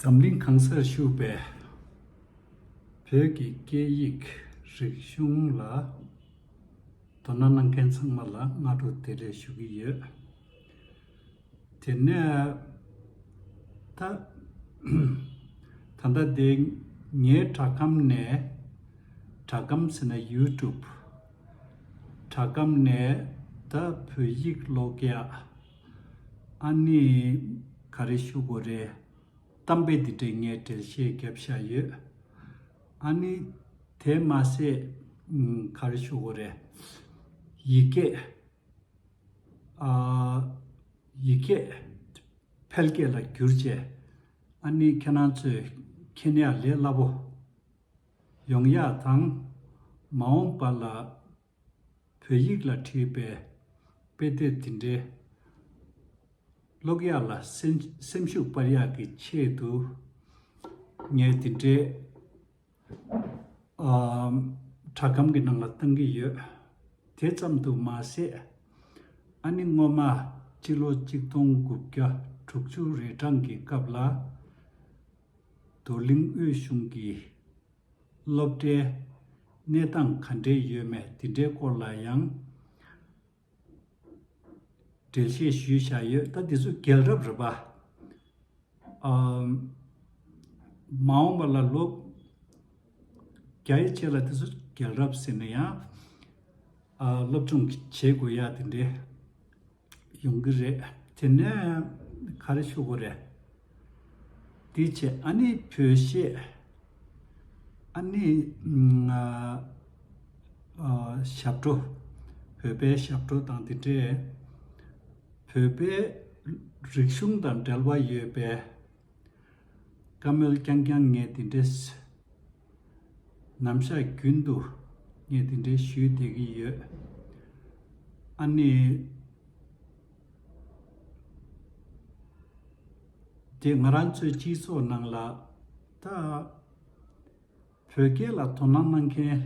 འཛམ་གླིང་གང་སར་བཞུགས་པའི་བོད་ཀྱི་སྐད་ཡིག་རིག་གཞུང་ལ་དོ་སྣང་གནང་མཁན་ཚང་མ་ལ་སྔ་དྲོ་དེ་ལས་ཞུ་གི་ཡོད། དེ་ནས་ད། ད་ལྟ་དེ་ངའི་དྲ་སྒམ་ནས། དྲ་སྒམ་ཟེར་ན YouTube། དྲ་སྒམ་ནས་ད་བོད་ཡིག་ཀློག་ཡག། ཨ་ནི། ག་རེ་ཞུ་དགོས་རེད། གཏམ་དཔེ་འདི་འདྲས་ངས་བྲེལ་བཤད་བརྒྱབ་བཞག་ཡོད། ཨ་ནི། དེ་མ་ཟད། ག་རེ་ཞུ་དགོས་རེད། ཡིག་སྐད། ཨ། ཡིག་སྐད། ཕལ་སྐད་ལ་བསྒྱུར་བྱས། ཨ་ནི་ཁྱེད་རང་ཚོས་མཁྱེན་ཡག་ལས་སླ་པོ། ཡོང་ཡག་དང། མ་འོངས་པ་ལ། བོད་ཡིག་ལ་བྲིས་པའི་དཔེ་དེབ་དེ་འདྲའི་ཀློག་ཡག་ལ་སེམས་ཤུགས་སྤར་ཡག་གི་ཆེད་དུ། ངས་དེ་འདྲའི་དྲ་སྒམ་གྱི་ནང་ལ་བཏང་གི་ཡོད། དེ་ཙམ་དུ་མ་ཟད། ཨ་ནེ་སྔོན་མ་སྤྱི་ལོ་གཅིག་སྟོང་དགུ་བརྒྱ་དྲུག་ཅུ་རེ་གྲངས་ཀྱི་སྐབས་ལ། རྡོར་གླིང་དབུས་གཞུང་གི། སློབ་གྲྭའི་གནས་སྟངས་ག་འདྲས་ཡོད་མེད་དེ་འདྲའི་སྐོར་ལ་ཡང་འགྲེལ་བཤད་ཞུས་བཞག་ཡོད་ད་དེ་ཚོ་རྒྱལ་རབས་རེད་པ། མ་འོངས་པ་ལ་ལོ་བརྒྱ་ཡི་ཕྱེད་ལ་དེ་ཚོ་རྒྱལ་རབས་ཟེར་ན་ཡང་སློབ་སྦྱོང་བྱེད་དགོས་ཡ་དེ་འདྲའི་ཡོང་གི་རེད་དེ་ནས་ག་རེ་ཤོད་དགོས་རེད། དེའི་ཆེད་ཨ་ནེའི་བུ་བཤད། ཨ་ནེ། ཞབས་བྲོ། བོད་པའི་ཞབས་བྲོ་དང་དེ་འདྲའི། བོད་པའི་རིག་གཞུང་དང་འབྲེལ་བ་ཡོད་པའི། བཀའ་མོལ་རྐྱང་རྐྱང་ངས་དེ་འདྲའི། ནམ་ཞག་རྒྱུན་དུ་ངས་དེ་འདྲའི་ཞུས་བསྡད་ཀྱི་ཡོད། ཨ་ནེ། རྗེས་ང་རང་ཚོའི་སྤྱི་ཚོགས་ནང་ལ། ད། བོད་སྐད་ལ་དོ་སྣང་གནང་མཁན།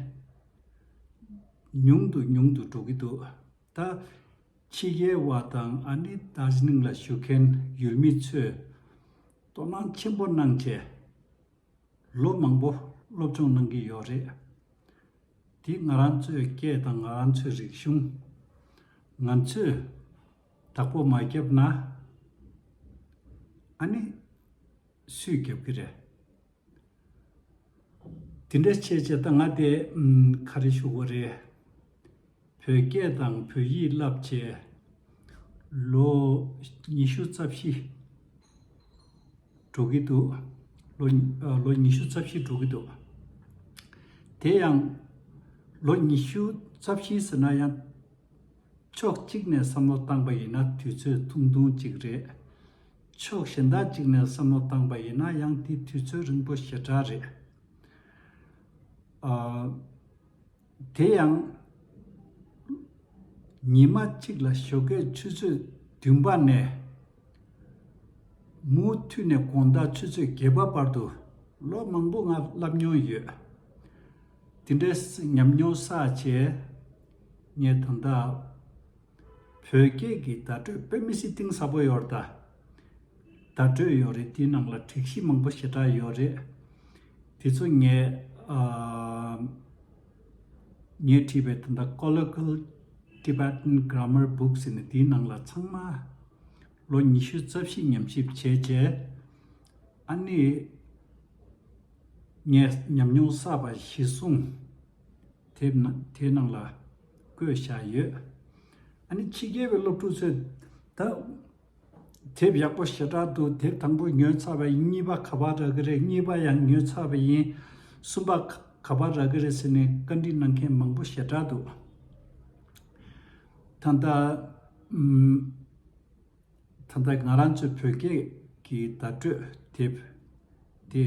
ཉུང་དུ་ཉུང་དུ་འགྲོ་གི་འདུག། ད་ཕྱི་རྒྱལ་བ་དང་ཨ་ནི་དཱ་ཇི་ནིང་ལ་བཞུགས་མཁན་ཡུལ་མི་ཚོས་དོ་སྣང་ཆེན་པོ་གནང་སྟེ། ལོ་མང་པོ་སློབ་སྦྱོང་གནང་གི་ཡོད་རེད། དེ་ང་རང་ཚོའི་སྐད་དང་ང་རང་ཚོའི་རིག་གཞུང། ང་ཚོས་དྭགས་པོ་མ་བརྒྱབ་ན། ཨ་ནི་སུས་བརྒྱབ་གི་རེད། དེ་འདྲ་བྱས་བྱས་ད་ང་དེ་ཁ་རེ་ཤོར་བོ་རེད། བོད་སྐད་དང་བོད་ཡིག་བསླབ་བྱས་ལོ་ཉི་ཤུ་རྩ་བཞི་འགྲོ་གི་འདུག་ལོ་ཉི་ཤུ་རྩ་བཞི་འགྲོ་གི་འདུག་དེ་ཡང་ལོ་ཉི་ཤུ་རྩ་བཞི་ཟེར་ན་ཡང་ཕྱོགས་གཅིག་ནས་བསམ་བློ་བཏང་པ་ཡིན་ན་དུས་ཚོད་ཐུང་ཐུང་ཅིག་རེད། ཕྱོགས་གཞན་དག་ཅིག་ནས་བསམ་བློ་བཏང་པ་ཡིན་ན་ཡང་དེའི་དུས་ཚོད་རིང་པོ་ཞེ་དྲག་རེད། དེ་ཡང། ཉི་མ་གཅིག་ལ་ཞོགས་ཀའི་ཆུ་ཚོད་བདུན་པ་ནས། མུ་མཐུད་ནས་གོང་ལྟར་ཆུ་ཚོད་བརྒྱད་པ་བར་དུ་ལོ་མང་པོ་ང་བསླབས་མྱོང་ཡོད། དེ་འདྲའི་ཉམས་མྱོང་བསགས་རྗེས། ངས་ད་ལྟ། བོད་སྐད་ཀྱི་བརྡ་སྤྲོད་དཔེ་མི་སྲིད་གཏིང་ཟབ་པོ་ཡོད་རེད། བརྡ་སྤྲོད་ཡོད་རེད་དེའི་ནང་ལ་དྲིག་གཞི་མང་པོ་ཞེ་དྲག་ཡོད་རེད། དེ་ཚོ་ངས་ངས་བྲིས་པའི་ད་ལྟ Colloquial Tibetan Grammar Book ཟེར་ནས་དེའི་ནང་ལ་ཚང་མ་ལོ་ཉི་ཤུ་རྩ་བཞི་ཉམས་ཞིབ་བྱས་རྗེས་ཨ་ནི་ངས་ཉམས་མྱོང་བསགས་པ་གཞི་བཟུང་དེ་ནང་ལ། བཀོད་བཞག་ཡོད། ཨ་ནི་ཕྱི་རྒྱལ་བའི་སློབ་ཕྲུག་ཚོས། ད། དེབ་ཡག་པོ་ཞེ་དྲག་འདུག་དེབ་དང་པོ་ཉོས་ཚར་བ་ཡིན་གཉིས་པ་ག་པར་རག་གི་རེད་གཉིས་པ་ཡང་ཉོས་ཚར་བ་ཡིན། གསུམ་པ། ག་པར་རག་གི་རེད་ཟེར་ནས་བཀའ་འདྲི་གནང་མཁན་མང་པོ་ཞེ་དྲག་འདུག། ད་ལྟ། ད་ལྟ་ང་རང་ཚོའི་བོད་སྐད་ཀྱི་བརྡ་སྤྲོད་དེབ། དེ།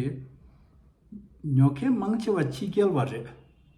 ཉོ་མཁན་མང་ཆེ་བ་ཕྱི་རྒྱལ་བ་རེད།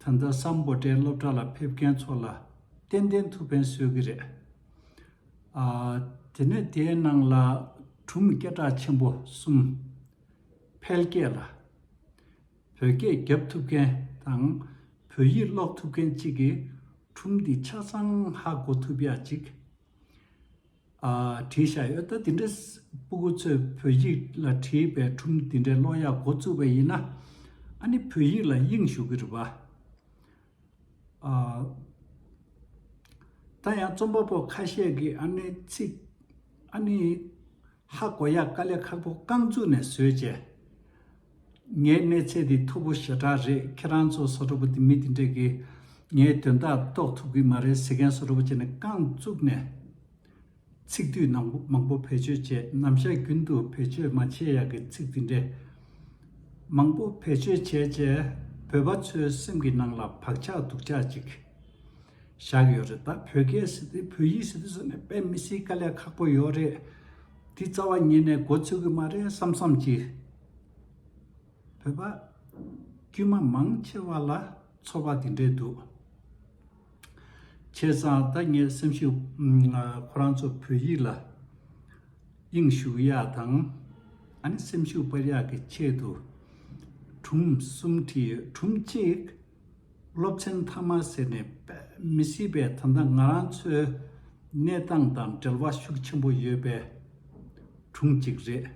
ད་ལྟ་སམ་བོ་ཏའི་སློབ་གྲྭ་ལ་ཕེབས་མཁན་ཚོ་ལ་ཏན་ཏན་ཐུགས་ཕན་གསོས་ཀྱི་རེད། དེ་ནས་དེའི་ནང་ལ་གྲུམ་སྐད་གྲགས་ཆེན་པོ་གསུམ། ཕལ་སྐད་ལ། བོད་སྐད་རྒྱབ་ཐུབ་མཁན་དང་བོད་ཡིག་ཀློག་ཐུབ་མཁན་གཅིག་གིས་གྲུམ་འདི་ཆ་ཚང་ཧ་གོ་ཐུབ་ཡ་གཅིག། བྲིས་བཞག་ཡོད་ད་དེ་འདྲའི་སྤུ་གུ་ཚོས་བོད་ཡིག་ལ་བྲིས་པའི་ཁྲུམས་དེ་འདྲའི་གློག་ཡག་འགོ་བཙུགས་པ་ཡིན་ན། ཨ་ནི་བོད་ཡིག་ལ་དབྱིངས་ཞུགས་ཀྱི་རེད་པ། ད་ཡང་རྩོམ་པ་པོ་ཁ་ཤས་ཀྱིས་ཨ་ནི་ཚིག་ཨ་ནི་ཧ་གོ་ཡག་དཀའ་ལས་ཁག་པོ་རྐང་བཙུགས་ནས་བཟོས་བྱས། ངའི་གནས་ཚད་འདི་མཐུག་པོ་ཞེ་དྲག་རེད་ཁྱེད་རང་ཚོ་བཟོ་གྲོགས་པོ་འདི་མི་འདི་འདྲས་ཀྱིས་ངའི་དོན་དག་རྟོགས་ཐུབ་ཀྱི་མ་རེད་ཟེར་མཁན་བཟོ་གྲོགས་པོ་བྱས་ནས་རྐང་བཙུགས་ནས། ཚིག་བསྡུས་ནང་པོ་མང་པོ་བེད་སྤྱོད་བྱས་ནམ་ཞག་རྒྱུན་དུ་བེད་སྤྱོད་མ་བྱས་ཡག་གི་ཚིག་འདི་འདྲས་མང་པོ་བེད་སྤྱོད་བྱས་རྗེས་བོད་པ་ཚོའི་སེམས་ཀྱི་ནང་ལ་བག་ཆགས་སྡུག་ཆགས་ཅིག་བཞག་ཡོད་རེད་ད་བོད་སྐད་ཟེར་ཏེ་བོད་ཡིག་ཟེར་ཏེ་བཟོ་ནས་དཔེ་མི་སྲིད་དཀའ་ལས་ཁག་པོ་ཡོད་རེད། དེའི་རྩ་བ་ཉིད་ནས་སྒོ་ཚུགས་གི་མ་རེད་བསམ་བསམ་གྱིས། བོད་པ་དཀྱུས་མ་མང་ཆེ་བ་ལ་ཚོར་བ་དེ་འདྲས་འདུག། བྱས་ཙང་ད་ངས་སེམས་ཤུགས་ཁོ་རང་ཚོ་བོད་ཡིག་ལ་དབྱིངས་ཞུགས་ཡག་དང། ཨ་ནི་སེམས་ཤུགས་སྤར་ཡག་གི་ཆེད་དུ། གྲུམ་གསུམ་གྱིས་གྲུམ་གཅིག། སློབ་ཚན་མཐའ་མ་ཟེར་ནས་མི་སྲིད་པས་ད་ལྟ་ང་རང་ཚོའི་གནས་སྟངས་དང་འབྲེལ་བ་ཤུགས་ཆེན་པོ་ཡོད་པའི་གྲུང་ཅིག་རེད།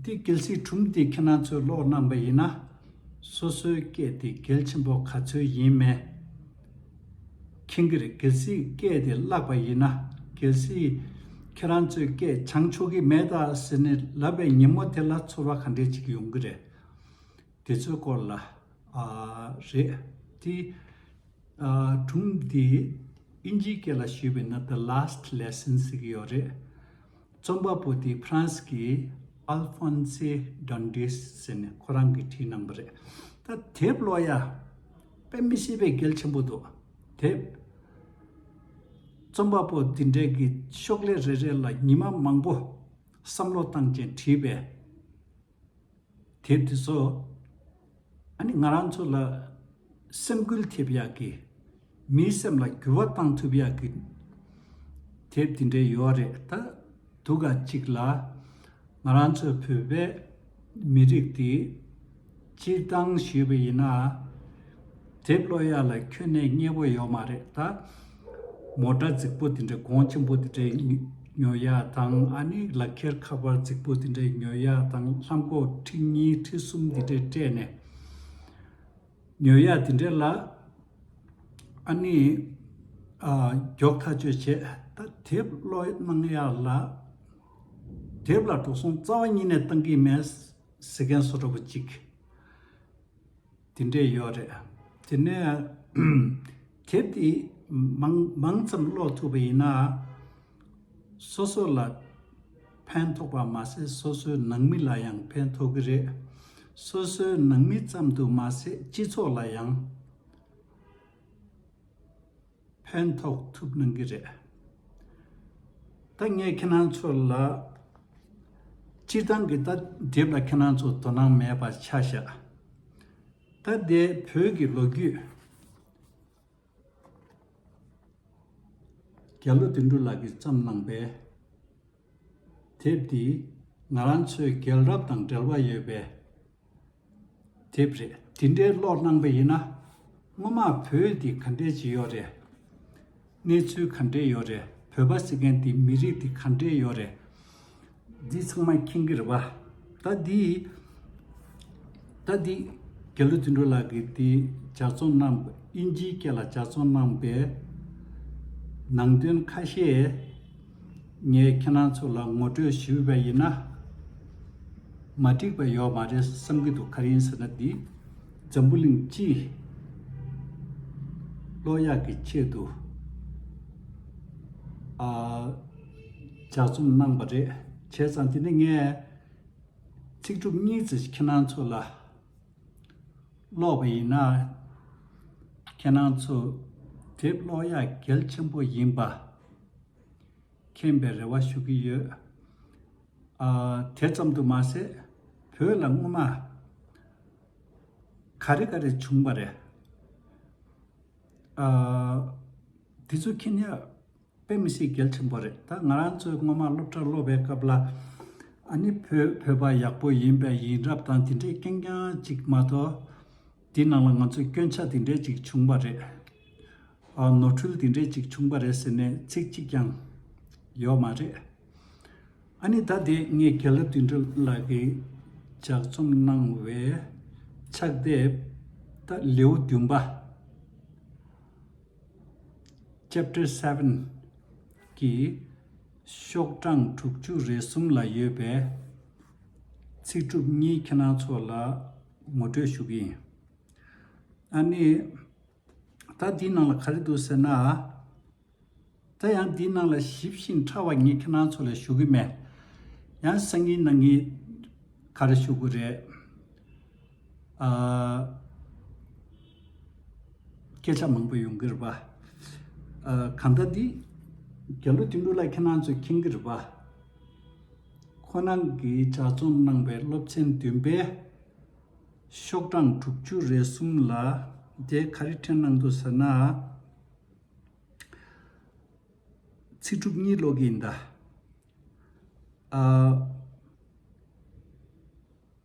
འདི་གལ་སྲིད་གྲུང་འདི་ཁྱེད་རང་ཚོས་ཀློག་གནང་པ་ཡིན་ན་སོ་སོའི་སྐད་དེ་གལ་ཆེན་པོ་ག་ཚོད་ཡིན་མེད་མཁྱེན་གི་རེད་གལ་སྲིད་སྐད་དེ་བརླག་པ་ཡིན་ན་གལ་སྲིད་ཁྱེད་རང་ཚོས་སྐད་སྦྱང་ཆོག་གི་མེད་ཟེར་ནས་ལབ་པའི་ཉིན་མོ་དེ་ལ་ཚོར་བ་ག་འདྲས་ཅིག་ཡོང་གི་རེད། དེ་ཚོའི་སྐོར་ལ། རེད་དེ། དྲུང་འདི། ཨིན་ཇིའི་སྐད་ལ་ཞུས་པས་ན the last lesson ཟེར་གྱི་ཡོད་རེད། རྩོམ་པ་པོ་དེ་ཕ་རན་སི་གི Alphonse Dandes ཟེར་ནས་ཁོ་རང་གིས་བྲིས་གནང་བ་རེད། ད་དེབ་ཀློག་ཡ། དཔེ་མི་སྲིད་པའི་གལ་ཆེན་པོ་འདུག་དེབ། རྩོམ་པ་པོ་འདི་འདྲས་ཀྱི་ཤོག་ལྷེ་རེ་རེ་ལ་ཉི་མ་མང་པོ་བསམ་བློ་བཏང་རྐྱེན་བྲིས་པའི། དེབ་དེ་ཚོ་ཨ་ནི་ང་རང་ཚོ་ལ་སེམས་སྐུལ་ཐེབས་ཡག་གི། མིའི་སེམས་ལ་འགྱུར་བ་བཏང་ཐུབ་ཡག་གི་དེབ་དེ་འདྲའི་ཡོད་རེད་ད། དུ་ག་ཅིག་ལ་ང་རང་ཚོའི་བོད་པའི་མི་རིགས་དེ་སྤྱིར་བཏང་ཞུས་པ་ཡིན་ན། དེབ་བློ་ཡག་ལ་ཁྱོད་ནད་རྙེད་པོ་ཡོད་མ་རེད་ད། མོ་སྒྲ་རྫིག་པོ་དེ་འདྲའི་གོང་ཆེན་པོ་དེ་འདྲའི་ཉོ་ཡག་དང་ཨ་ནི་ལག་ཁྱེར་ཁ་པར་རྫིག་པོ་དེ་འདྲའི་ཉོ་ཡག་དང་ལྷམ་སྒོག་ཁྲི་གཉིས་ཁྲི་གསུམ་དེ་འདྲའི་སྤྲད་ནས་ཉོ་ཡག་དེ་འདྲའི་ལ་ཨ་ནི་མགྱོགས་ཐག་གཅོད་བྱེད་ད་དེབ་བློ་གནང་ཡག་ལ། དེབ་ལ་འགྲོ་སོང་རྩ་བ་ཉིད་ནས་བཏང་གིན་མེད་ཟེར་མཁན་སོ་འདྲ་པོ་གཅིག། དེ་འདྲས་ཡོད་རེད། དེ་ནས་དེབ་དེ་མང་ཙམ་ཀློག་ཐུབ་པ་ཡིན་ན། སོ་སོ་ལ་ཕན་ཐོགས་པ་མ་ཟད་སོ་སོའི་ནང་མི་ལ་ཡང་ཕན་ཐོགས་ཀྱི་རེད། སོ་སོའི་ནང་མི་ཙམ་དུ་མ་ཟད་སྤྱི་ཚོགས་ལ་ཡང། ཕན་ཐོགས་ཐུབ་གནང་གི་རེད། ད་ངས་ཁྱེད་རང་ཚོ་ལ། སྤྱིར་བཏང་གི་ད་དེབ་ལ་ཁྱེད་རང་ཚོ་དོ་སྣང་མེད་པ་ཆ་བཞག་ད་དེ་བོད་ཀྱི་ལོ་རྒྱུས། རྒྱ་ལོ་དོན་འགྲུ་ལགས་ཀྱིས་བརྩམས་གནང་པའི་དེབ་འདི་ང་རང་ཚོའི་རྒྱལ་རབས་དང་འབྲེལ་བ་ཡོད་པའི་དེབ་རེད་དེ་འདྲའི་བློ་བླངས་པ་ཡིན་ན། སྔོན་མ་བོད་འདི་ག་འདྲའི་ཅི་ཡོད་རེད། གནས་ཚུལ་ག་འདྲའི་ཡོད་རེད་བོད་པ་ཟེར་མཁན་དེ་མི་རིགས་དེ་ག་འདྲའི་ཡོད་རེད། འདི་ཚང་མ་མཁྱེན་གི་རེད་བ། ད་འདི། ད་འདི། རྒྱ་ལོ་དུད་འགྲོ་ལགས་ཀྱིས་འདི་ཇག་ཚོང་གནང། དབྱིན་ཇིའི་སྐད་ལ་ཇག་ཚོང་གནང་པའི། ནང་དོན་ཁ་ཤས། ངས་ཁྱེད་རང་ཚོ་ལ་ངོ་སྤྲོད་ཞུས་པ་ཡིན་ན། མ་འགྲིག་པ་ཡོད་མ་རེད་བསམ་གྱི་འདུག་ག་རེ་ཡིན་ཟེར་ན་འདི། འཛམ་བུ་གླིང་སྤྱིའི་བློ་ཡག་གི་ཆེད་དུ། ལྗགས་རྩོམ་གནང་པ་རེད། བྱས་ཙང་དེ་ནི་ངས། ཚིག་གྲུབ་གཉིས་ཙི་ཁྱེད་རང་ཚོ་ལ། ཀློག་པ་ཡིན་ན། ཁྱེད་རང་ཚོ་དེབ་ཀློག་ཡག་གལ་ཆེན་པོ་ཡིན་པ། མཁྱེན་པའི་རེ་བ་ཞུ་གི་ཡོད། དེ་ཙམ་དུ་མ་ཟད་བོད་ལ་སྔོན་མ་ག་རེ་ག་རེ་བྱུང་བ་རེད། དེ་ཚོ་མཁྱེན་ཡག་དཔེ་མི་སྲིད་གལ་ཆེན་པོ་རེད་ད་ང་རང་ཚོས་སྔོན་མ་སློབ་གྲྭར་སློབ་པའི་སྐབས་ལ་ཨ་ནི་བོད་བོད་པ་ཡག་པོ་ཡིན་པས་ཡིན་རབས་དང་དེ་འདྲའི་སྐད་རྐྱང་གཅིག་མ་གཏོགས། དེའི་ནང་ལ་ང་ཚོས་སྐྱོན་ཆ་དེ་འདྲས་ཅིག་བྱུང་བ་རེད། ནོར་འཁྲུལ་དེ་འདྲས་ཅིག་བྱུང་བ་རེད་ཟེར་ནས་ཚིག་གཅིག་ཀྱང་ཡོད་མ་རེད། ཨ་ནི་ད་དེ་ངས་རྒྱལ་ལ་དུད་འགྲོ་ལགས་ཀྱིས་ལྗགས་རྩོམ་གནང་བའི་ཕྱག་དེབ་ད་ལེའུ་བདུན་པ། Chapter Seven། གི་ཤོག་གྲངས་དྲུག་ཅུ་རེ་གསུམ་ལ་ཡོད་པའི་ཚིག་གྲུབ་གཉིས་ཁྱེད་རང་ཚོ་ལ། ངོ་སྤྲོད་ཞུ་གི་ཡིན། ཨ་ནི། ད་འདིའི་ནང་ལ་ག་རེ་འདུག་ཟེར་ན། ད་ཡང་འདིའི་ནང་ལ་ཞིབ་བཞིན་ཕྲ་བ་ངས་ཁྱེད་རང་ཚོ་ལ་ཞུ་གི་མེད། ཡང་གསར་རྙིང་ནང་གི་ག་རེ་ཞུ་དགོས་རེད། ཨ། སྐད་ཆ་མང་པོ་ཡོང་གི་རེད་པ། ཨ་གང་ལྟར་འདི། རྒྱ་ལོ་དེ་འདྲུག་ལ་ཁྱེད་རང་ཚོས་མཁྱེན་གི་རེད་པ། ཁོ་རང་གིས་གྲྭ་བཙུན་གནང་བའི་སློབ་ཚན་བདུན་པའི་ཤོག་གྲངས་དྲུག་ཅུ་རེ་གསུམ་ལ་དེ་ག་རེ་འཕྲིན་གནང་འདུག་ཟེར་ན། ཚིག་གྲུབ་གཉིས་ཀློག་གི་ཡིན་ད།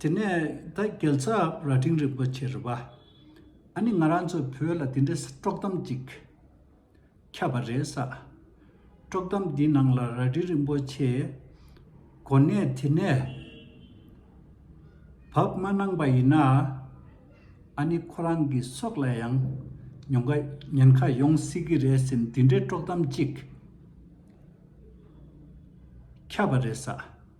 དེ་ནས་ད་གེལ་ཚ་ར་སྤྲིང་རིན་པོ་ཆེ་རི་བ། ཨ་ནི་ང་རང་ཚོའི་བོད་ལ་དེ་འདྲའི་དཀྲོག་གཏམ་ཅིག་ཁྱབ་པ་རེད་ས། དཀྲོག་གཏམ་འདིའི་ནང་ལ་ར་སྤྲིང་རིན་པོ་ཆེ་གོ་གནས་དེ་ནས་བབས་མ་གནང་པ་ཡིན་ན། ཨ་ནི་ཁོ་རང་གི་སྲོག་ལ་ཡང་ཉེན་ཁ་ཡོང་སྲིད་ཀྱི་རེད་ཟེར་འདི་འདྲའི་དཀྲོག་གཏམ་ཅིག་ཁྱབ་པ་རེད་ས།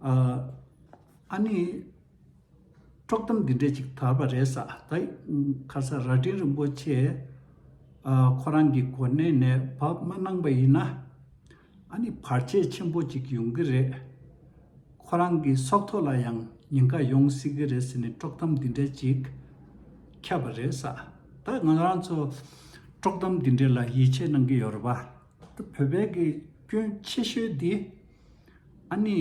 ཨ་ཨ་ནི། དཀྲོག་གཏམ་འདི་འདྲས་ཅིག་དར་བ་རེད་ས་ད་ཁ་ས་རྭ་སྒྲེང་རིན་པོ་ཆེ་ཁོ་རང་གི་གོ་གནས་ནས་བབས་མ་གནང་པ་ཡིན་ན་ཨ་ནི་བར་ཆད་ཆེན་པོ་ཅིག་ཡོང་གི་རེད། ཁོ་རང་གི་སྲོག་ཐོག་ལ་ཡང་ཉེན་ཁ་ཡོང་སྲིད་གི་རེད་ཟེར་ནས་དཀྲོག་གཏམ་འདི་འདྲས་ཅིག་ཁྱབ་པ་རེད་ས་ད་ང་རང་ཚོ་དཀྲོག་གཏམ་འདི་འདྲས་ལ་ཡིད་ཆེས་གནང་གི་ཡོད་རེད་བ། བོད་པའི་གི་སྐྱོན་ཆེ་ཤོས་འདི། ཨ་ནེ།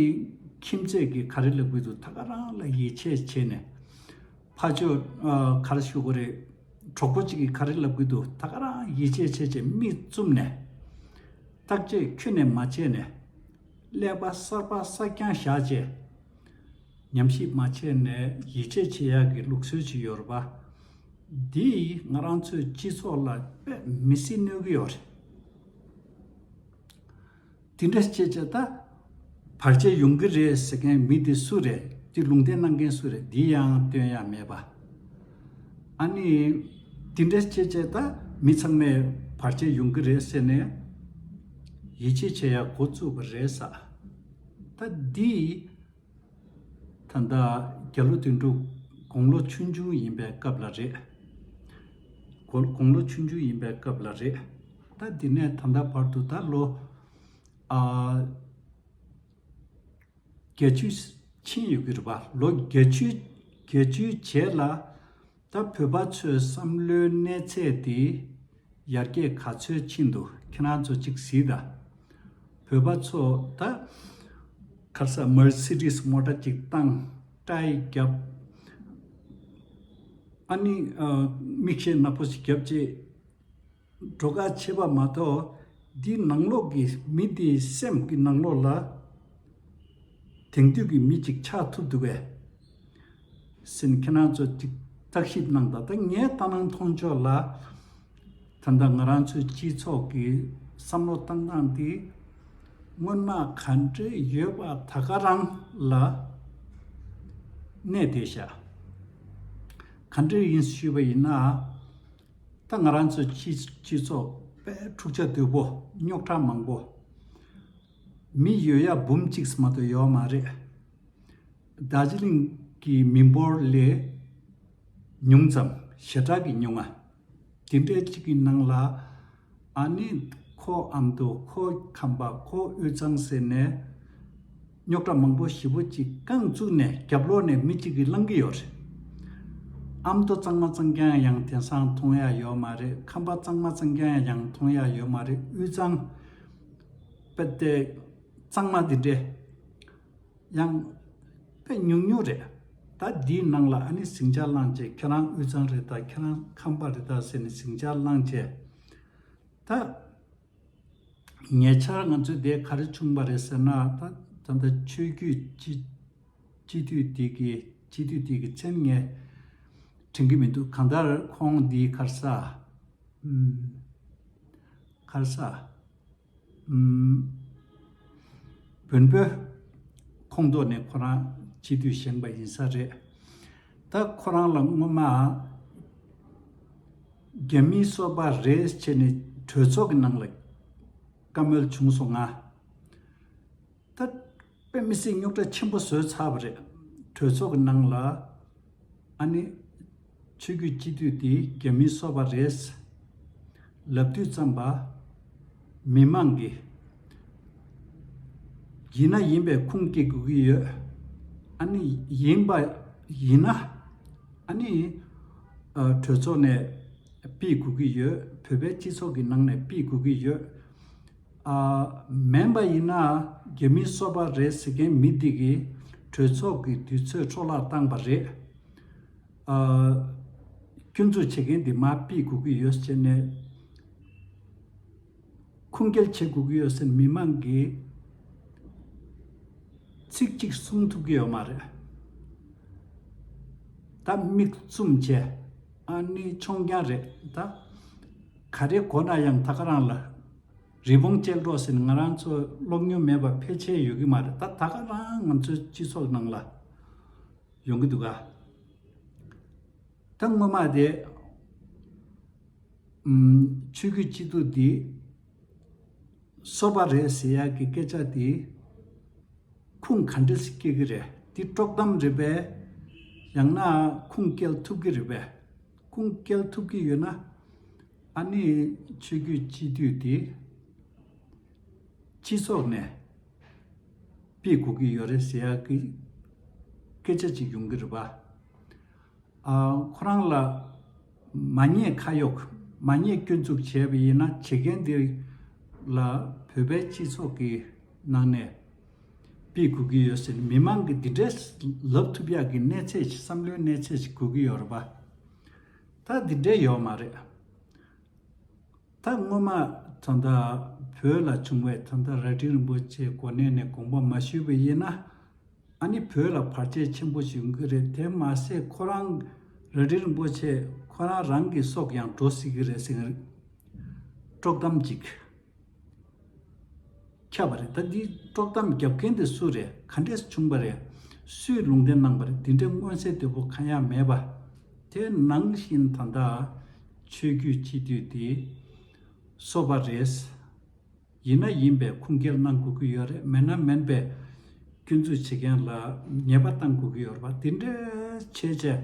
ཁྱིམ་མཚེས་ཀྱི་ག་རེ་ལ་གུས་འདུད་ད་ག་རང་ལ་ཡིད་ཆེས་བྱེད་ནས། ཕ་ཆོས། ག་རེ་ཞུ་གི་རེད། གྲོགས་པོ་གཅིག་གིས་ག་རེ་ལ་གུས་འདུད་ད་ག་རང་ཡིད་ཆེས་བྱེད་ཅེས་མིག་བཙུམ་ནས། བརྟག་དཔྱད་ཁྱོན་ནས་མ་བྱས་ནས། ཀླད་པ་གསར་པ་གསར་རྐྱང་བཞག་ཅེས། ཉམས་ཞིབ་མ་བྱས་ནས་ཡིད་ཆེས་བྱེད་ཡག་གི་ལུགས་སྲོལ་ཅིག་ཡོད་རེད་པ། འདིས་ང་རང་ཚོའི་སྤྱི་ཚོགས་ལ་དཔེ་མི་སྲིད་གནོད་ཀྱི་ཡོད་རེད། དེ་འདྲ་བྱེད་བྱེད་ད། བར་ཆད་ཡོང་གི་རེད་ཟེར་མཁན་མི་དེ་སུ་རེད་དེ་ལུང་བསྟན་གནང་མཁན་སུ་རེད་དེ་ཡང་སྟོན་ཡ་མེད་པ། ཨ་ནི། དེ་འདྲ་བྱེད་བྱེད་ད་མི་ཚང་མས་བར་ཆད་ཡོང་གི་རེད་ཟེར་ནས། ཡིད་ཆེས་བྱེད་ཡ་འགོ་བཙུགས་པ་རེད་ས། ད་འདིས། ད་ལྟ་རྒྱ་ལོ་དོན་དྲུག་དགུང་ལོ་ཆུང་ཆུང་ཡིན་པའི་སྐབས་ལ་རེད། དགུང་ལོ་ཆུང་ཆུང་ཡིན་པའི་སྐབས་ལ་རེད། ད་འདི་ནས་ད་ལྟ་བར་དུ་ད་ལོ། བརྒྱད་ཅུ་ཕྱིན་ཡོད་ཀྱི་རེད་པ། ལོ་བརྒྱད་ཅུ་བརྒྱད་ཅུ་བྱས་ལ། ད་བོད་པ་ཚོའི་བསམ་བློའི་གནས་ཚད་དེ་ཡར་རྒྱས་ག་ཚོད་ཕྱིན་འདུག་ཁྱེད་རང་ཚོ་གཅིག་གཟིགས་དང། བོད་པ་ཚོ་ད་ཁར་ས Mercedes སྔོ་སྐྲ་གཅིག་བཏང་སྐྲ་ཡིས་བརྒྱབ། ཨ་ནི་མིག་ཤེལ་ནག་པོ་ཞིག་བརྒྱབ་རྗེས། བྲོ་གར་བྱེད་པ་མ་གཏོགས་འདིའི་ནང་ལོགས་ཀྱི་མི་དེའི་སེམས་ཀྱི་ནང་ལོགས་ལ་དེང་དུས་ཀྱི་མི་ཅིག་ཆགས་ཐུབ་འདུག་བས་སེམས་ཁྱེད་རང་ཚོ་ཅིག་བརྟག་ཞིབ་གནང་ད་ལྟ་ངའི་ལྟ་སྣང་མཐོང་ཕྱོགས་ལ་ད་ལྟ་ང་རང་ཚོའི་སྤྱི་ཚོགས་ཀྱི་བསམ་བློ་བཏང་སྟངས་དེ་སྔོན་མ་ག་འདྲ་ཡོད་པ་ད་ག་རང་ལ་གནས་བསྡད་ཤག་ག་འདྲ་ཡིན་ཞུས་པ་ཡིན་ན་ད་ང་རང་ཚོའི་སྤྱི་ཚོགས་པས་འཁྲུག་ཆ་དོད་པོ་རྙོག་དྲ་མང་པོ། མི་ཡོད་ཡ་འབུམ་གཅིག་མ་གཏོགས་ཡོད་མ་རེད། རྡ་རྗེ་གླིང་གི་མི་འབོར་ལས་ཉུང་ཙམ་ཞེ་དྲག་གི་ཉུང་ང་དེ་འདྲའི་གཅིག་གི་ནང་ལ། ཨ་ནི། ཁོ་ཨ་མདོ་ཁོ་ཁམས་པ་ཁོ་དབུས་གཙང་ཟེར་ནས། རྙོག་དྲ་མང་པོ་བཞི་བོ་གཅིག་རྐང་བཙུགས་ནས་རྒྱབ་ལོག་ནས་མི་གཅིག་གིས་བསླང་གི་ཡོད་རེད། ཨ་མདོ་གཙང་མ་གཙང་རྐྱང་ཡང་དེང་སང་མཐོང་ཡ་ཡོད་མ་རེད་ཁམས་པ་གཙང་མ་གཙང་རྐྱང་ཡང་མཐོང་ཡ་ཡོད་མ་རེད་དབུས་གཙང། པད་གཙང་མ་དེ་འདྲའི། ཡང། དཔེ་ཉུང་ཉུང་རེད། ད་འདིའི་ནང་ལ་ཨ་ནི་ཟིང་ཆ་བླངས་རྗེས་ཁྱེད་རང་དབུས་གཙང་རེད་དཱ་ཁྱེད་རང་ཁམས་པ་རེད་དཱ་ཟེར་ནས་ཟིང་ཆ་བླངས་རྗེས། ད། ཉེ་ཆར་ང་ཚོས་དེ་ག་རེ་བྱུང་བ་རེད་ཟེར་ན་ད་ད་ལྟ་ཆོས་བརྒྱུད་སྤྱི། སྤྱི་འཐུས་དེ་གི་སྤྱི་འཐུས་དེ་གི་མཚན་ངས་དྲན་གི་མི་འདུག་གང་ལྟར་ཁོང་འདིའི་ཁར་ས། ཁར་ས། བོན་པོའི་ཁོངས་གཏོགས་ནས་ཁོ་རང་སྤྱི་འཐུས་བཞེངས་པ་ཡིན་ས་རེད། ད་ཁོ་རང་ལ་སྔོན་མ། རྒྱ་མིའི་སོ་པ་རེད་ཅེས་ནས་གྲོས་ཚོགས་ཀྱི་ནང་ལ་བཀའ་མོལ་བྱུང་སོང་ང། ད་དཔེ་མི་སྲིད་རྙོག་དྲ་ཆེན་པོ་བཟོས་ཚར་བ་རེད། གྲོས་ཚོགས་ཀྱི་ནང་ལ། ཨ་ནི། ཆོས་བརྒྱུད་སྤྱི་འཐུས་དེ་རྒྱ་མིའི་སོ་བ་རེད། ལབ་དུས་རྩམ་པ། མི་མང་གི། ཡིན་ན་ཡིན་པའི་ཁུངས་སྐྱེལ་དགོས་ཀྱི་ཡོད། ཨ་ནི། ཡིན་པ་ཡིན་ན། ཨ་ནི། གྲོས་ཚོགས་ནས་སྤེལ་དགོས་ཀྱི་ཡོད། བོད་པའི་སྤྱི་ཚོགས་ཀྱི་ནང་ནས་སྤེལ་དགོས་ཀྱི་ཡོད། མེན་པ་ཡིན་ན་རྒྱ་མི་གསོད་པ་རེད་ཟེར་མཁན་མི་འདི་གིས་གྲོས་ཚོགས་ཀྱི་དུས་ཚོད་འཕྲོ་བརླག་བཏང་པ་རེད། སྐྱོན་འཛུགས་བྱེད་མཁན་འདི་མ་དཔེ་དགོས་ཀྱི་ཡོད་ཟེར་ནས་ཁུངས་སྐྱེལ་བྱེད་དགོས་ཀྱི་ཡོད་ཟེར་མི་མང་གིས་ཚིག་གཅིག་གསུང་ཐུབ་ཀྱི་ཡོད་མ་རེད། ད་མིག་བཙུམ་བྱས་ཨ་ནི་ཆོང་རྐྱང་རེད་ད། ག་རེ་གོ་ན་ཡང་ད་ག་རང་ལ། རི་བོང་ཅལ་འདྲོགས་ཟེར་ང་རང་ཚོ་སློབ་མྱོང་མེད་པར་ཕལ་ཆེར་ཡོད་ཀྱི་མ་རེད་ད་ད་ག་རང་ང་ཚོའི་སྤྱི་ཚོགས་ནང་ལ་ཡོང་གི་འདུག་ག་ད་སྔོན་མ་དེ་ཆོས་རྒྱུད་སྤྱི་འཐུས་དེ་གསོ་པ་རེད་ཟེར་ཡག་གི་སྐད་ཆ་དེ་ཁུངས་ག་འདྲས་སུ་སྐྱེལ་གི་རེད་དེ་དཀྲོག་གཏམ་རེད་པས་ཡང་ན་ཁུངས་སྐྱེལ་ཐུབ་ཀྱི་རེད་པས་ཁུངས་སྐྱེལ་ཐུབ་ཀྱི་ཡོད་ན། ཨ་ནི་ཆོས་རྒྱུད་སྤྱི་འཐུས་དེ་སྤྱི་ཚོགས་ནས་སྤེལ་དགོས་ཀྱི་ཡོད་རེད་ཟེར་ཡག་གི་སྐད་ཆ་ཅིག་ཡོང་གི་རེད་པ། ཁོ་རང་ལ་མ་ཉེས་ཁ་གཡོག་མ་ཉེས་སྐྱོན་འཛུགས་བྱས་པ་ཡིན་ན་བྱེད་མཁན་དེ་ལ་བོད་པའི་སྤྱི་ཚོགས་ཀྱི་ནང་ནས་སྤེལ་དགོས་ཀྱི་ཡོད་ཟེར་མི་མང་གི་འདི་འདྲས་ལབ་ཐུབ་ཡག་གི་གནས་ཚད་ཅིག་བསམ་བློའི་གནས་ཚད་ཅིག་དགོས་ཀྱི་ཡོད་རེད་པ། ད་དེ་འདྲས་ཡོད་མ་རེད། ད་སྔོན་མ་ཚོ་མདའ་བོད་ལ་བྱུང་བའི་ཚོ་མདའ་རལ་གྲི་རིན་པོ་ཆེའི་གོ་གནས་ནས་དགོངས་པ་མ་ཞུས་པ་ཡིན་ན། ཨ་ནི་བོད་ལ་བར་ཆད་ཆེན་པོ་ཞིག་ཡོང་གི་རེད་དེ་མ་ཟད་ཁོ་རང་རལ་གྲི་རིན་པོ་ཆེ་ཁོ་རང་རང་གི་སྲོག་ཀྱང་འགྲོ་སྲིད་ཀྱི་རེད་ཟེར། དཀྲོག་གཏམ་གཅིག། ཁྱབ་པ་རེད་ད་འདིའི་དཀྲོག་གཏམ་བརྒྱབ་མཁན་དེ་སུ་རེད་ག་འདྲས་བྱུང་པ་རེད། སུས་ལུང་བསྟན་གནང་པ་རེད་འདི་འདྲའི་མངོན་གསལ་དོད་པོ་གང་ཡང་མེད་པ། དེ་ནང་བཞིན་ད་ལྟ། ཆོས་བརྒྱུད་སྤྱི་འཐུས་དེ། སོ་པ་རེད། ཡིན་ན་ཡིན་པའི་ཁུངས་སྐྱེལ་གནང་དགོས་ཀྱི་ཡོད་རེད་མེད་ན་མེད་པའི། སྐྱོན་འཛུགས་བྱེད་མཁན་ལ་ཉེས་པ་བཏང་དགོས་ཀྱི་ཡོད་རེད་པ་འདི་འདྲའི་ཆོས་བྱེད།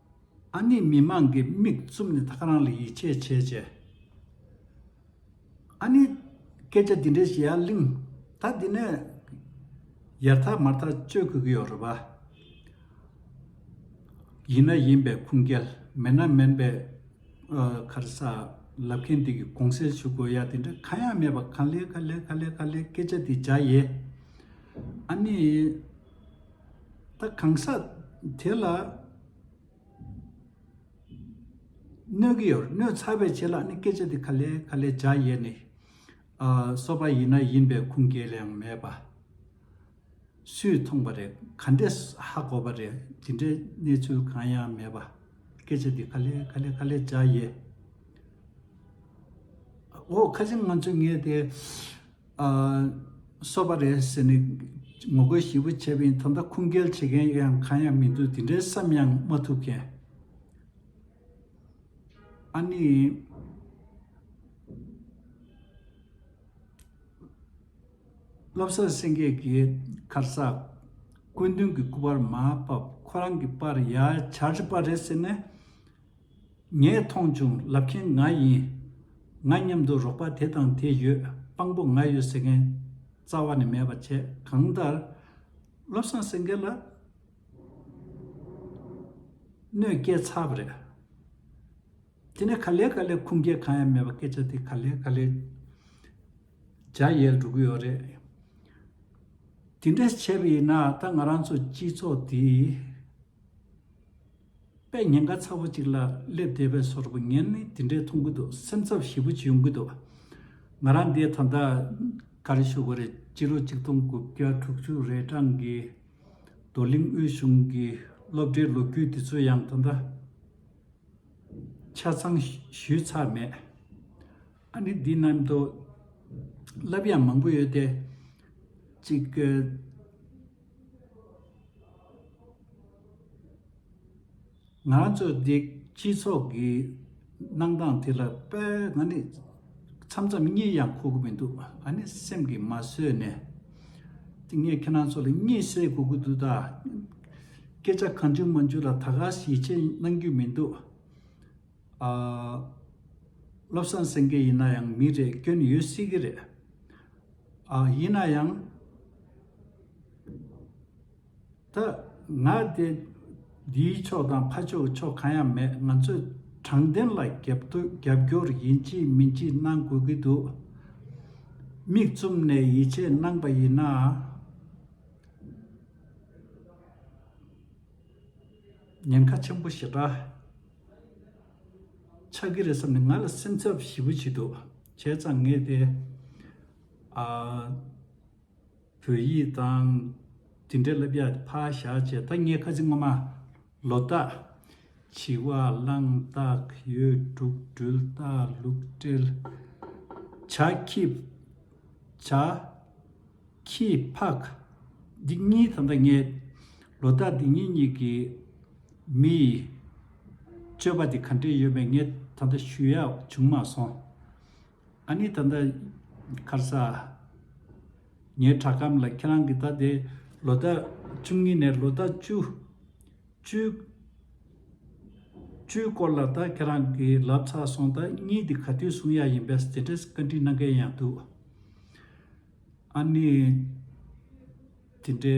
ཨ་ནི་མི་མང་གི་མིག་བཙུམ་ནས་ཐག་རང་ལ་ཡིད་ཆེས་བྱེད་ཅེས། ཨ་ནི། སྐད་ཆ་འདི་འདྲའི་བཤད་ཡ་གླིང། ད་འདི་ནས། ཡར་ཐག་མར་ཐག་གཅོད་དགོས་ཀྱི་ཡོད་རེད་པཱ། ཡིན་ན་ཡིན་པའི་ཁུངས་སྐྱེལ། མེད་ན་མིན་པའི། ཁར་ས། ལབ་མཁན་དེ་གི་གོང་སེལ་ཞུ་དགོས་ཡ་དེ་འདྲ་གང་ཡང་མེད་པ་ག་ལེ་ག་ལེ་ག་ལེ་ག་ལེ་སྐད་ཆ་དེ་བརྒྱ་ཡེ། ཨ་ནི། ད་གང་ཟག་དེ་ལ་གནོད་ཀྱི་ཡོད་རེད་གནོད་ཚ་བའི་ཆེད་ལ་ནི་སྐད་ཆ་དེ་ག་ལས་ག་ལས་བྱ་ཡས་ནི། གསོ་པ་ཡིན་ན་ཡིན་པའི་ཁུངས་སྐྱེལ་ཡང་མེད་པ། སུས་མཐོང་པ་རེད་ག་འདྲས་ཧ་གོ་བ་རེད་དེ་འདྲའི་གནས་ཚུལ་གང་ཡང་མེད་པ། སྐད་ཆ་དེ་ག་ལས་ག་ལས་ག་ལས་བྱ་ཡས། འོ་ཁ་ཆེམས་ང་ཚོས་ངས་དེ་གསོ་བ་རེད་ཟེར་ནས་ངོ་རྒོལ་ཞིབ་པོ་བྱས་པའི་ཐོག་མཐའ་ཁུངས་སྐྱེལ་བྱེད་མཁན་ཡོད་ཡང་གང་ཡང་མི་འདུག་དེ་འདྲའི་བསམ་ཡང་མ་ཐུབ་མཁན། ཨ་ནི། བློ་བཟང་སེང་གེ་གིས་ཁར་གསག། སྐུ་མདུན་གྱི་སྐུ་པར་མ་ཕབ་ཁོ་རང་གི་པར་ཡར་འཕྱར་པ་རེད་ཟེར་ནས། ངས་མཐོང་བྱུང་ལབ་མཁན་ང་ཡིན། ང་མཉམ་དུ་རོགས་པ་དེ་དང་དེ་ཡོད་དཔང་པོ་ང་ཡོད་ཟེར་མཁན། རྩ་བ་ནས་མེད་པ་བྱས་གང་ལྟར། བློ་བཟང་སེང་གེ་ལ་གནོད་སྐྱེལ་ཚར་བ་རེད། དེ་ནས་ག་ལེ་ག་ལེ་ཁུངས་སྐྱེལ་གང་ཡང་མེད་པ་སྐད་ཆ་དེ་ག་ལེ་ག་ལེ་འཇའ་ཡལ་འགྲོ་གི་ཡོད་རེད། དེ་འདྲ་བྱས་པ་ཡིན་ན་ད་ང་རང་ཚོ་སྤྱི་ཚོགས་དེ། པས་ཉེན་ཁ་ཚ་བོ་གཅིག་ལ་སླེབས་བསྡད་པའི་ཟོར་བུ་ངས་ནི་དེ་འདྲའི་མཐོང་གི་འདུག་སེམས་འཚབ་ཞེ་བུ་ཅི་ཡོང་གི་འདུག་ང་རང་འདས་ད་ལྟ་ག་རེ་ཞུ་གི་རེད་སྤྱི་ལོ་གཅིག་སྟོང་དགུ་བརྒྱ་དྲུག་ཅུ་རེས་གྲངས་ཀྱི་རྡོ་གླིང་དབུས་གཞུང་གི་སློབ་གྲྭའི་ལོ་རྒྱུས་དེ་ཚོ་ཡང་ད་ལྟ་ཆ་ཚང་ཞུས་ཚར་མེད་ཨ་ནི་འདི་རྣམས་མདོ་ལབ་ཡང་མང་པོ་ཡོད་དེ་གཅིག་ང་ཚོས་སྡེ་སྤྱི་ཚོགས་ཀྱི་གནང་སྟངས་དེ་ལ་དཔེ་ང་ནི་མཚམས་མཚམས་གཉིད་ཡང་ཁུག་གི་མི་འདུག་ང་ནི་སེམས་ཀྱིས་མ་བཟོད་ནས་དེ་ངས་ཁྱེད་རང་ཚོ་ལ་གཉིད་སད་དགོས་ཀྱི་འདུག་ད། སྐད་ཆ་གང་བྱུང་མ་བྱུང་ལ་ད་ག་ཞིག་བྱས་གནང་རྒྱུ་མི་འདུག་ཨ། བློ་བཟང་སེང་གེ་ཡིན་ན་ཡང་མི་རེད་སྐྱོན་ཡོད་སྲིད་ཀྱི་རེད། ཡིན་ན་ཡང། ད་ང་དེ་འདིའི་ཕྱོགས་དང་ཕ་ཕྱོགས་ཀྱི་ཕྱོགས་གང་ཡང་མེད་ང་ཚོས་དྲང་བདེན་ལ་རྒྱབ་སྐྱོར་ཡིན་གཅིག་མིན་གཅིག་གནང་དགོས་ཀྱི་འདུག་མིག་བཙུམ་ནས་ཡིད་ཆེས་གནང་པ་ཡིན་ན། ཉེན་ཁ་ཆེན་པོ་ཞེ་དྲག་ཆགས་ཀྱི་རེད་བསམ་ནས་ང་ལ་སེམས་འཚབ་ཞེ་པོ་བྱེད་འདུག་བྱས་ཙང་ངས་དེ། བོད་ཡིག་དང། དེ་འདྲའི་བསླབ་བྱ་ཕར་བཞག་བྱས་ཐ་སྙད་ཁ་ཚིག་སྔོན་མ། ལོ་རྟགས། བྱི་བ་གླང་རྟགས་ཡོས་འབྲུག་སྦྲུལ་རྟགས་ལུག་སྤྲེལ། བྱ་ཁྱི། བྱ། ཁྱི། ཕག། འདི་གཉིས་དང་ཐ་སྙད། ལོ་རྟགས་འདི་གཉིས་གཉིས་ཀྱི། མི་ཡི། སྤྱོད་པ་དེ་ག་འདྲས་ཡོད་པའི་ངས་ད་ལྟ་ཞུ་ཡག་བྱུང་མ་སོང། ཨ་ནི་ད་ལྟ་ཁར་ས། ངའི་བྲག་སྐམ་ལ་ཁྱེད་རང་གི་ད་དེ་ལོ་ཟླ་བཅུ་གཉིས་ནས་ལོ་ཟླ་བཅུ། བཅུ། བཅུའི་སྐོར་ལ་ད་ཁྱེད་རང་གི་ལབ་ཚར་སོང་ད་གཉིས་འདི་ག་དུས་བཟུང་ཡག་ཡིན་པས་སྟེ་བཀའ་འདྲི་གནང་མཁན་ཡང་འདུག། ཨ་ནི། དེ་འདྲའི།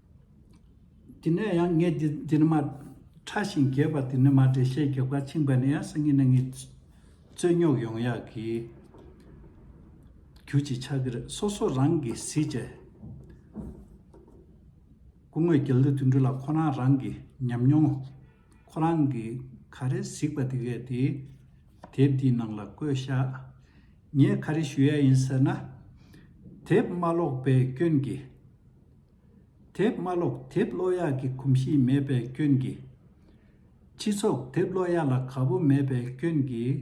དེ་ནས་ཡང་ངས་འདི་འདི་ནི་མ། ཕྲ་ཞིང་རྒྱས་པ་འདི་ནི་མ་འགྲེལ་བཤད་རྒྱབ་ཁ་འཆིང་བ་ནི་ཡང་སེང་གེ་ནག་ཉིད། རྩོད་རྙོག་ཡོང་ཡག་གི། རྒྱུ་གཅིག་ཆགས་ཀྱི་རེད་སོ་སོ་རང་གི་གཟི་བརྗེད། སྐུ་དངོས་རྒྱལ་གླུ་དུད་འགྲོ་ལ་ཁོ་རང་རང་གི་ཉམས་མྱོང། ཁོ་རང་གི་ག་རེ་གཟིགས་པ་དེ་གས་དེ། དེབ་འདིའི་ནང་ལ་བཀོད་བཞག། ངས་ག་རེ་ཞུ་ཡ་ཡིན་ཟེར་ན། དེབ་མ་ཀློག་པའི་སྐྱོན་གྱིས། དེབ་དམའ་ཀློག་དེབ་ཀློག་ཡག་གི་གོམས་གཤིས་མེད་པའི་སྐྱོན་གྱིས། སྤྱི་ཚོགས་དེབ་ཀློག་ཡག་ལ་ག་བོ་མེད་པའི་སྐྱོན་གྱིས།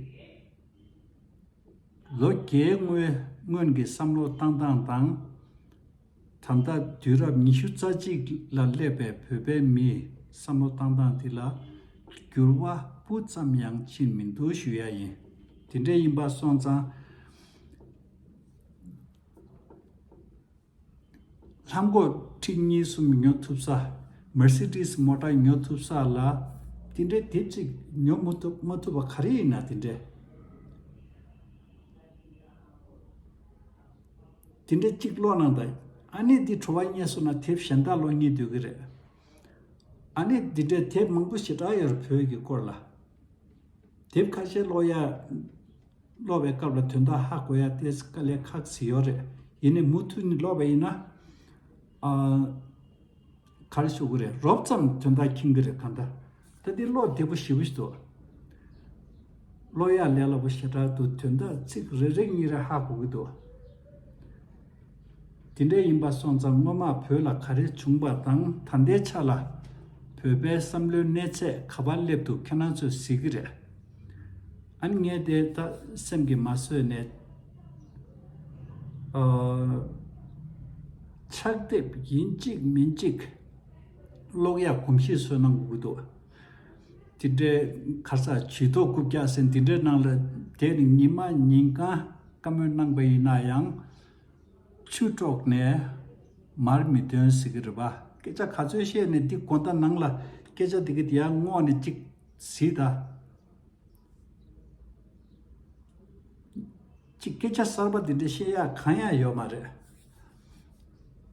ལོ་བརྒྱའི་སྔོན་གྱི་བསམ་བློ་བཏང་སྟངས་དང། ད་ལྟ་དུས་རབས་ཉི་ཤུ་རྩ་གཅིག་ལ་སླེབས་པའི་བོད་པའི་མིའི་བསམ་བློ་བཏང་སྟངས་དེ་ལ་འགྱུར་བ་སྤུ་ཙམ་ཡང་ཕྱིན་མི་འདུག་ཞུ་ཡ་ཡིན། དེ་འདྲ་ཡིན་པ་སོང་ཙང། ལྷམ་སྒོག་མཁྲིག་གཉིས་གསུམ་ཉོ་ཐུབ་ས། Mercedes མོ་ཏྲ་ཉོ་ཐུབ་ས་ལ། དེ་འདྲའི་དེབ་ཅིག་ཉོ་མི་ཐུབ་མ་ཐུབ་པ་ག་རེ་ཡིན་ན་དེ་འདྲའི། དེ་འདྲའི་ཅིག་ཀློག་གནང་དང། ཨ་ནེ་འདིས་བྲོ་བ་རྙེད་སོང་ན་དེབ་གཞན་དག་ཀློག་རྙེད་སྡོད་ཀྱི་རེད། ཨ་ནེ་འདི་འདྲའི་དེབ་མང་པོ་ཞེ་དྲག་ཡོད་རེད་བོད་ཀྱི་སྐོར་ལ། དེབ་ཁ་ཤས་ཀློག་ཡ། ཀློག་པའི་སྐབས་ལ་དོན་དག་ཧ་གོ་ཡ་དེ་ཀ་ལས་ཁག་བཟི་ཡོད་རེད་ཡིན་ནའི་མུ་མཐུད་ནས་ཀློག་པ་ཡིན་ན། ག་ལ་ཤོག་གི་རེད་རོབ་ཙམ་དོན་དག་མཁྱེན་གི་རེད་ག་འདྲ། ད་འདི་ཀློག་བདེ་པོ་ཞེ་བོ་ཞིག་འདུག། ཀློག་ཡག་ལས་སླ་པོ་ཞེ་དྲག་འདུག་དོན་དག་ཚིག་རེ་རེ་གཉིས་རེ་ཧ་གོ་གི་འདུག། དེ་འདྲ་ཡིན་པ་སོང་ཙང་སྔོན་མ་བོད་ལ་ག་རེ་བྱུང་བ་དང་ད་ལྟའི་ཆ་ལ་བོད་པའི་བསམ་བློའི་གནས་ཚད་ག་པར་སླེབས་འདུག་ཁྱེད་རང་ཚོས་གཟིགས་གི་རེད། ཨན་ངས་དེ་ད་སེམས་ཀྱི་མ་བཟོད་ནས། ཕྱག་དེབ་ཡིན་གཅིག་མིན་གཅིག། གློག་ཡག་གོམས་གཤིས་བཟོས་གནང་དགོས་ཀྱི་འདུག། དེ་འདྲའི་ཁ་ས་བྱིས་ཐོག་རྐུབ་བཀྱག་ཟིན་དེ་འདྲའི་ནང་ལ་དེ་ནི་ཉིན་མ་ཉིན་གང་བཀའ་མོལ་གནང་པ་ཡིན་ན་ཡང། ཆུ་དཀྲོགས་ནས་མར་མི་ཐོན་ཟེར་གྱི་རེད་པ། སྐད་ཆ་ག་ཚོད་བཤད་ནས་འདི་གོ་ད་ནང་ལ་སྐད་ཆ་དེ་གི་དེ་ཡང་སྔོག་ནས་ཅིག་ཟིག་ད། ཅི་སྐད་ཆ་གསར་པ་དེ་འདྲ་བཤད་ཡག་གང་ཡང་ཡོད་མ་རེད།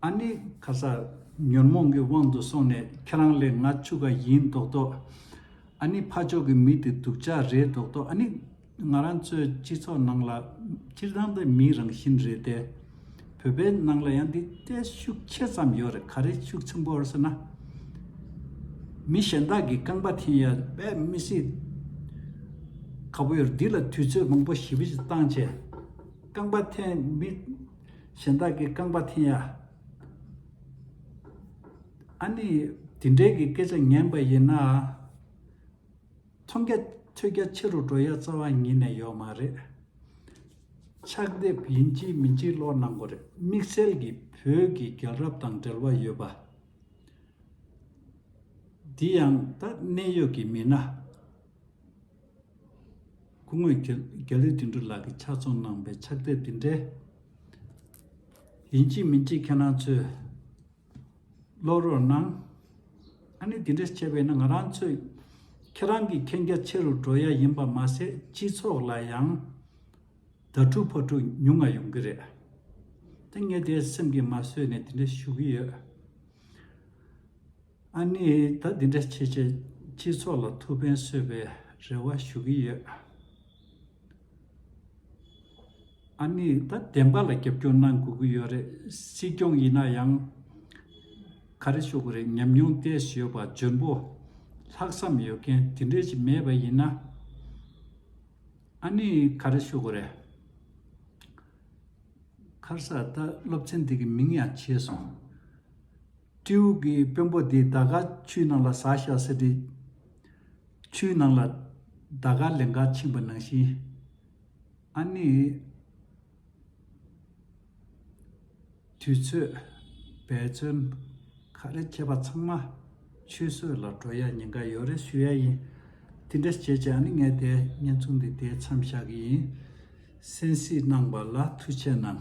ཨ་ནི་ཁ་སང་ཉོན་མོངས་ཀྱི་དབང་དུ་སོང་ནས་ཁྱེད་རང་ལས་ང་ཆུ་ག་ཡིན་མདོག་མདོག། ཨ་ནི་ཕ་ཕྱོགས་ཀྱི་མི་དེ་སྡུག་ཅག་རེད་མདོག་མདོག་ཨ་ནི་ང་རང་ཚོའི་སྤྱི་ཚོགས་ནང་ལ་སྤྱིར་བཏང་དུ་མིའི་རང་བཞིན་རེད་དེ། བོད་པའི་ནང་ལ་ཡང་འདི་ལྟའི་ཤུགས་ཆེ་ཙམ་ཡོད་རེད་ག་རེ་ཤུགས་ཆེན་པོ་ཟེར་ན། མི་གཞན་དག་གི་རྐང་པ་འཐེན་ཡ་བས་མི་སྲིད། ག་བུ་ཡོད་འདི་ལ་དུས་ཚོད་མང་པོ་ཞིབ་ཕྱི་བཏང་རྗེས་རྐང་པ་འཐེན་མི་གཞན་དག་གི་རྐང་པ་འཐེན་ཡ། ཨ་ནི་དེ་འདྲའི་གི་སྐད་ཆ་ཉན་པ་ཡིན་ན། མཐོང་རྒྱ་ཐོས་རྒྱ་ཆེ་རུ་འགྲོ་ཡ་རྩ་བ་ཉིད་ནས་ཡོད་མ་རེད། ཕྱག་དེབ་ཡིན་གཅིག་མིན་གཅིག་ཀློག་གནང་དགོས་རེད་དམིགས་བསལ་གྱི་བོད་ཀྱི་རྒྱལ་རབས་དང་འབྲེལ་བ་ཡོད་པ། འདི་ཡང་ད་གནས་ཡོད་ཀྱི་མི་སྣ། སྐུ་ངོས་རྒྱ་ལི་དིང་འབྲུ་ལགས་ཀྱིས་ཕྱག་ཚོང་གནང་པའི་ཕྱག་དེབ་དེ་འདྲའི། ཡིན་གཅིག་མིན་གཅིག་ཁྱེད་རང་ཚོས། བློ་རོགས་གནང། ཨ་ནི་དེ་འདྲ་བྱས་པས་ན་ང་རང་ཚོས་ཁྱེད་རང་གི་མཁྱེན་རྒྱ་ཆེ་རུ་འགྲོ་ཡ་ཡིན་པ་མ་ཟད་སྤྱི་ཚོགས་ལ་ཡང་དྭ་ཕྲུག་ཕ་ཕྲུག་ཉུང་ང་ཡོང་གི་རེད་དེ་ངས་དེ་སེམས་ཀྱི་མ་བཟོད་ནས་དེ་འདྲ་ཞུ་གི་ཡོད། ཨ་ནི་ད་དེ་འདྲ་བྱས་བྱས་སྤྱི་ཚོགས་ལ་ཐུགས་ཕན་གསོས་པའི་རེ་བ་ཞུ་གི་ཡོད། ཨ་ནི་ད་བདེན་པ་ལ་རྒྱབ་སྐྱོར་གནང་དགོས་ཀྱི་ཡོད་རེད་སྲིད་སྐྱོང་ཡིན་ན་ཡང། ག་རེ་ཤོར་གི་རེད་ཉམས་མྱོང་བལྟས་ཞེས་ཡོད་པ་འཇོན་པོ། ལྷག་བསམ་ཡོད་མཁན་དེ་འདྲས་ཞིག་མེད་པ་ཡིན་ན། ཨ་ནི་ག་རེ་ཤོར་གི་རེད། ཁར་ས་ད་སློབ་ཚན་འདི་གི་མིང་ཡང་བྱས་སོང། སྤྲེའུ་གི་དཔོན་པོ་འདི་ད་ག་ཆུའི་ནང་ལ་ཟག་ཤ་ཟེར་དུས། ཆུའི་ནང་ལ་ད་ག་ལན་འགའ་ཕྱིན་པ་ནང་བཞིན། ཨ་ནི། དུས་ཚོད། འབད་བརྩོན། ག་རེ་བྱས་པ་ཚང་མ། ཆུད་ཟོས་ལ་འགྲོ་ཡ་ཉེན་ཁ་ཡོད་རེ་ཞུ་ཡ་ཡིན། དེ་འདྲ་བྱས་རྗེས་ཨ་ནི་ངས་དེ་བརྙན་ཐུང་འདི་དེའི་མཚམས་བཞག་གི་ཡིན། སེམས་གཟིགས་གནང་བ་ལ་ཐུགས་ཆེ་གནང།